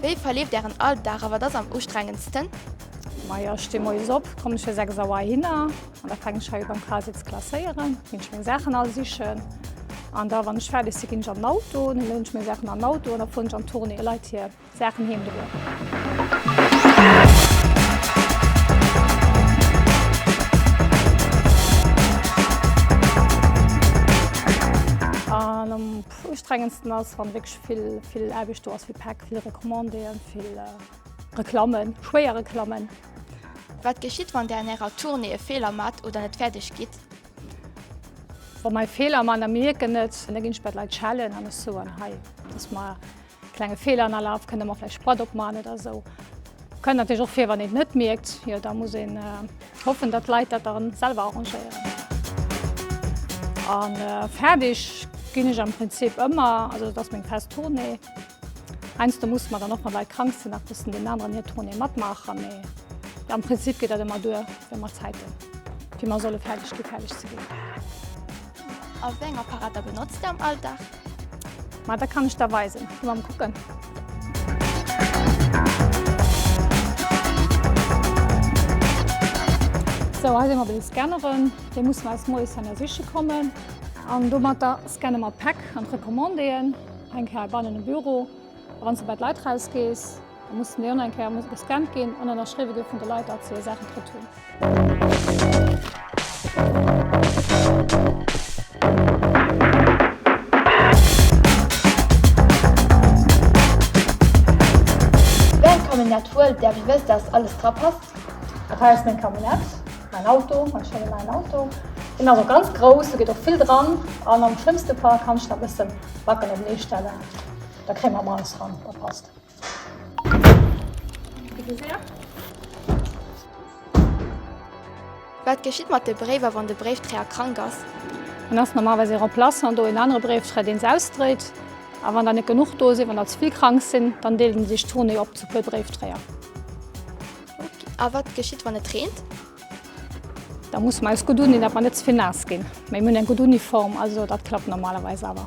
Wéi verleeft ären Alldag a wat ass am ustrengendsten? Majo, ech sti moies op, kommen ech fir 6 Auer hinner an da fänken ech hei u beim Kral si ze klasséieren, ginn ech meng Saachen all sichen an da wann ech fäerdeg si ginn ech an den Auto, da louden ech meng Saachen an den Auto an da fueren ech an d'Tournée, Leit hir Saachen heem droen. Dat Ustrengendsten ass, wann wierklech vill, vill Aarbecht do ass, vill Päck, vill Recommandéen, vill Reklammen, schwéier Reklammen. Wat geschitt, wann Där an Ärer Tournée e Feeler maacht oder net fäerdeg gitt? Wa mer e Feeler maachen a mir mierken et, da ginn ech bei d'Leit schellen an ech soen, hei, dass mer Klenge Feeler an aller kënne mer vläicht Sprat opman oder esou. Kënnt natierlech och vir, wann een et net mierkt, jo da muss een hoffen, datt d'Leit dat da selwer arrangéieren. A fäerdeg ginn ech am Prinzip ëmmer, also dat ass meng fest Tournée. Heiansdo musse mer dann och, wann Leit krank sinn, nach bëssen deenen aneren hir Tournée matmaachen, mee am Prinzip geet dat ëmmer duer, wéi mer Zäit hunn, wéi mer solle fäerdeg gi fäerdeg ze ginn. A wéi eng Apparater benotzt Dir am Alldag? Ma dat kann ech der weisen. Gi mam kucken. Sou, hei si mer bei de Scanneren. Déi mussen aus Moies hei ersiche kommen. An domatter scanne mer d'Päck an d'Recommandéeën. Eng Kéier bannen um Büro. Wann s de bei d'Leit eraus gees, da mussen déi online Kéier musse gescannt ginn an ënnerschriwwe gi vun de Leit, datt se hir Saachen kritt hunn. Däin Camionnette huelt der, wéi wëlls de, datt alles dra passt? Dat hei ass meng Camionnette, mäin Auto, mäin schéine neien Auto. Deen ass och ganz grouss, do geet och vill dran an am schlëmmste Fall kann ech nach e bësse Backen openee stellen. Da kréie mer Mais ran. Dat passt. Wat geschitt mat de Bréiwer, wann de Bréifträer krank ass? Dann ass normalerweis ee Remplaçant do, een anere Bréifträr, deen s'ausdréit. A wann der net genuch do sinn, wann der ze vill krank sinn, dann deelt een sech d'Journée op zu puer Bréifträer. A wat geschitt, wann et reent? Da musse mer eis gutt undoen, dat mer net ze vill naass ginn. Mee mir hunn eng gutt Uniform, also dat klappt normalerweis awer.